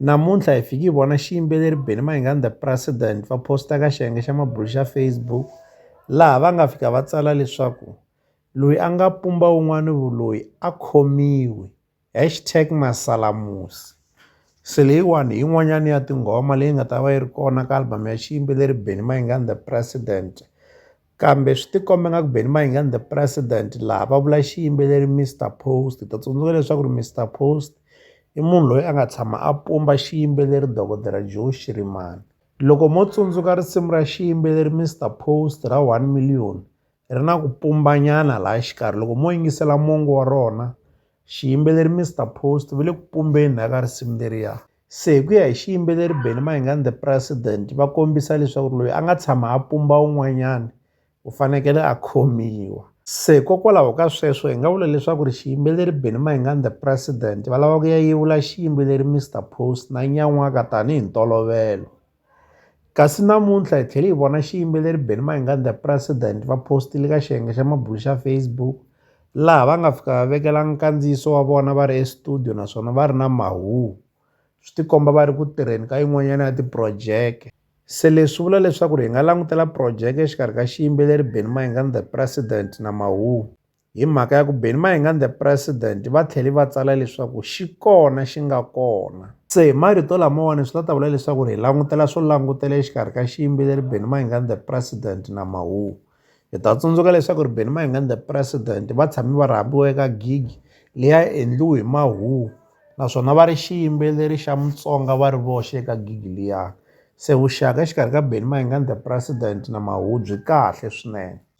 Namuntlha hi fike hi vona xiyimbeleri Benny Mayengani The President va posta ka xiyenge xa mabulo xa Facebook laha va nga fika va tsala leswaku loyi a nga pumba wun'wani vuloyi a khomiwe hashtag masalamusi se leyiwani hi yin'wanyani ya tinghoma leyi nga ta va yi ri kona ka album ya xiyimbeleri Benny Mayengani The President Kambe swi tikomba nga ku Benny Mayengani the president laha va vula xiyimbeleri Mister Post hi ta tsundzuka leswaku ri Mister Post i munhu loyi a nga tshama a pumba xiyimbeleri dokodela Joe Shirimani loko mo tsundzuka risimu ra xiyimbeleri Mister Post ra one million ri na ku pumbanyana laha xikarhi loko mo yingisela mongo wa rona xiyimbeleri Mister Post va le ku pumbeni na ka risimu leriya Se hi ku ya hi xiyimbeleri Benny Mayengani the president va kombisa leswaku ri loyi a nga tshama a pumba un'wanyana u fanekele a khomiwa se hikokwalaho ka sweswo hi nga vula leswaku ri xiyimbeleri Benny Mayengani the president va lava ku ya yevula xiyimbeleri Mister Post na nyan'waka tanihi ntolovelo. Kasi namuntlha hi tlhele hi vona xiyimbeleri Benny Mayengani The President va postile ka xiyenge xa mabulo xa Facebook laha va nga fika va vekela nkandziyiso wa vona va ri estudio naswona va ri na mahuhu swi tikomba va ri ku tirheni ka yin'wanyana ya tiphurojeke. Se leswi vula leswaku hi nga langutela phurojeke exikarhi ka xiyimbeleri Benny Mayengani The President na mahuhu. Hi mhaka ya ku Benny Mayengani the President va tlhele va tsala leswaku xi kona xi nga kona. Se hi marito lamawani swi ta ta vula leswaku hi langutela swo langutela exikarhi ka xiyimbeleri Benny Mayengani the President na Mahuwa. Hi ta tsundzuka leswaku ri Benny Mayengani the President va tshame va rhambiwa eka gig leyi a yi endliwe hi Mahuwa naswona va ri xiyimbeleri xa Mutsonga va ri voxe eka gig liya. Se vuxaka exikarhi ka Benny Mayengani the President na Mahuwa byi kahle swinene.